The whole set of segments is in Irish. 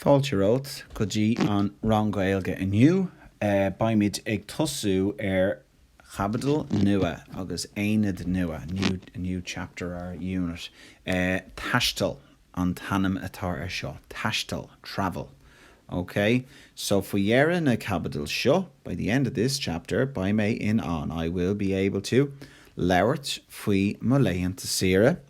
Fáilte romhat go dtí an rang Gaeilge inniu. Beimid ag tosú ar caibidil nua agus aonad nua, a new chapter or unit. Taisteal an t-ainm atá ar seo, taisteal, travel. OK? So, faoi deireadh na caibidil seo, by the end of this chapter, beidh mé in ann, I will be able to, labhairt faoi mo laethanta saoire,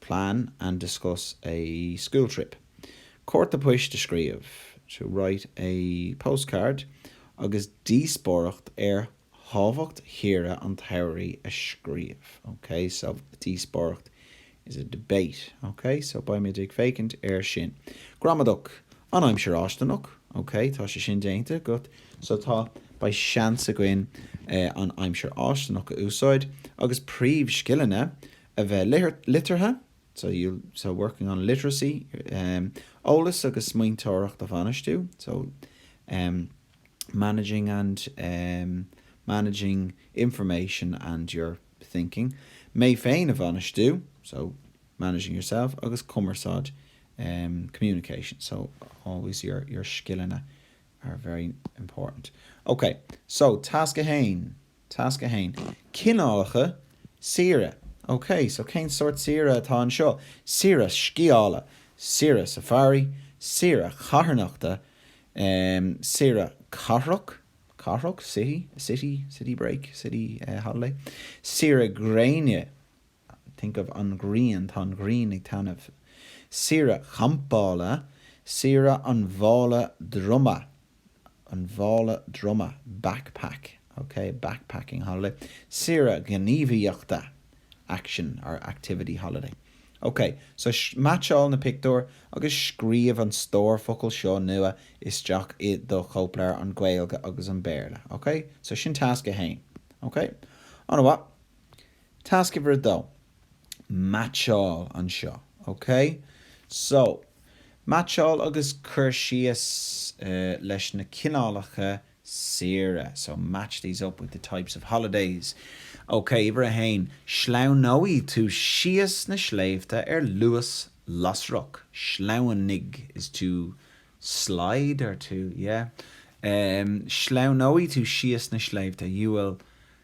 Plan and discuss a school trip. Cárta poist a scríobh, to write a postcard, agus díospóireacht ar thábhacht shaoire an tsamhraidh a scríobh. OK? So, díospóireacht is a debate. OK? So, beimid ag féachaint air sin. Gramadach An Aimsir Fháistineach. OK? Tá sé sin déanta againn. So, tá, beidh seans againn an Aimsir Fháistineach a úsáid. Agus Príomhscileanna a bheith liteartha, so you'll, so working on literacy eolas agus smaointeoireacht a bhainistiú, so managing and managing information and your thinking mé féin a bhainistiú, so managing yourself agus cumarsáid, communication, so always your your scileanna are very important. Okay, so tasc 1. Tasc 1. Cineálacha saoire. OK, so cén sórt saoire atá anseo? Saoire scíála, saoire safari, saoire carthanachta, em, saoire cathrach, cathrach, city, a city, city break, city, eh, holiday, saoire gréine, think of an grian, tá an ghrian ag taitneamh. Saoire champála, saoire an mhála droma, an mhála droma, backpack, ok, backpacking holiday. Saoire gníomhaíochta, action or activity holiday. Ok, so meaitseáil na pictiúir agus scríobh an stór focal seo nua isteach i do chóipleabhar, an Gaeilge agus an Béarla, ok? So sin tasc a haon, ok? An-mhaith. Tasc uimhir a dó, Meaitseáil anseo, OK? So, meaitseáil an cur síos leis na cineálacha saoire, so match these up with the types of holidays. OK, uimhir a haon, sleamhnóidh tú síos na sléibhte ar luas lasrach, sleamhnaigh is to slide or to, yeah? sleamhnóidh tú síos na sléibhte, you will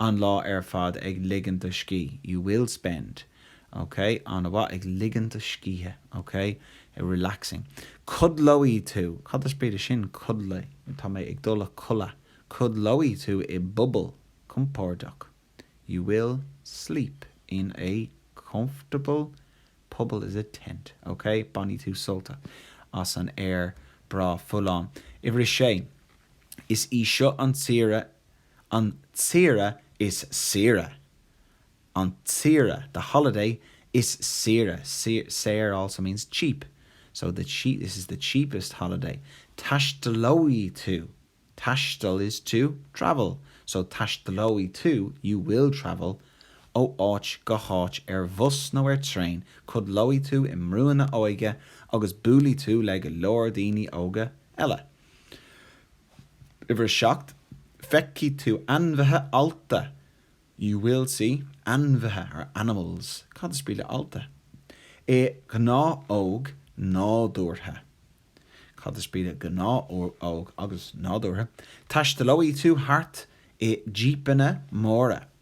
an lá ar fad ag ligean do scíth, you will spend, ok? an-mhaith ag ligean do scíthe, ok? relaxing. Codlóidh tú, cad is brí le sin? codlaigh, tá mé ag dul a chodladh. Codlóidh tú i bpuball compordach, you will sleep in a comfortable puball is a tent, ok? Bainfidh tú sult as an aer breá folláin. Uimhir a Sé, Is í seo an tsaoire an tsaoire is saoire, an tsaoire, the holiday is saoire, saor, saor also means cheap, so the cheap, this is the cheapest holiday, taistealóidh tú, taisteal is to travel, so taistealóidh tú, you will travel, ó áit go háit ar bhus nó ar traein, codlóidh tú i mbrúnna óige agus buailfidh tú le go leor daoine óga eile. Uimhir 7, Feicfidh tú ainmhithe allta. You will see ainmhithe, or animals. Cad is brí le allta? I gnáthóg nádúrtha. Cad is brí le gnáthóg agus nádúrtha? Taistealóidh tú thart i jípeanna móra.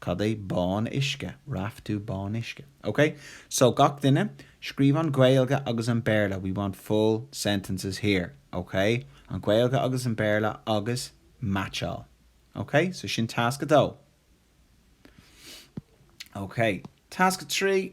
Cad é bán uisce? Raftú bán uisce. Ok, so gach duine, scríobh an Ghaeilge agus an Béarla, we want full sentences here, ok? An Ghaeilge agus an Béarla agus meaitseáil. Ok, so sin tasc a dó. Ok, tasc a trí.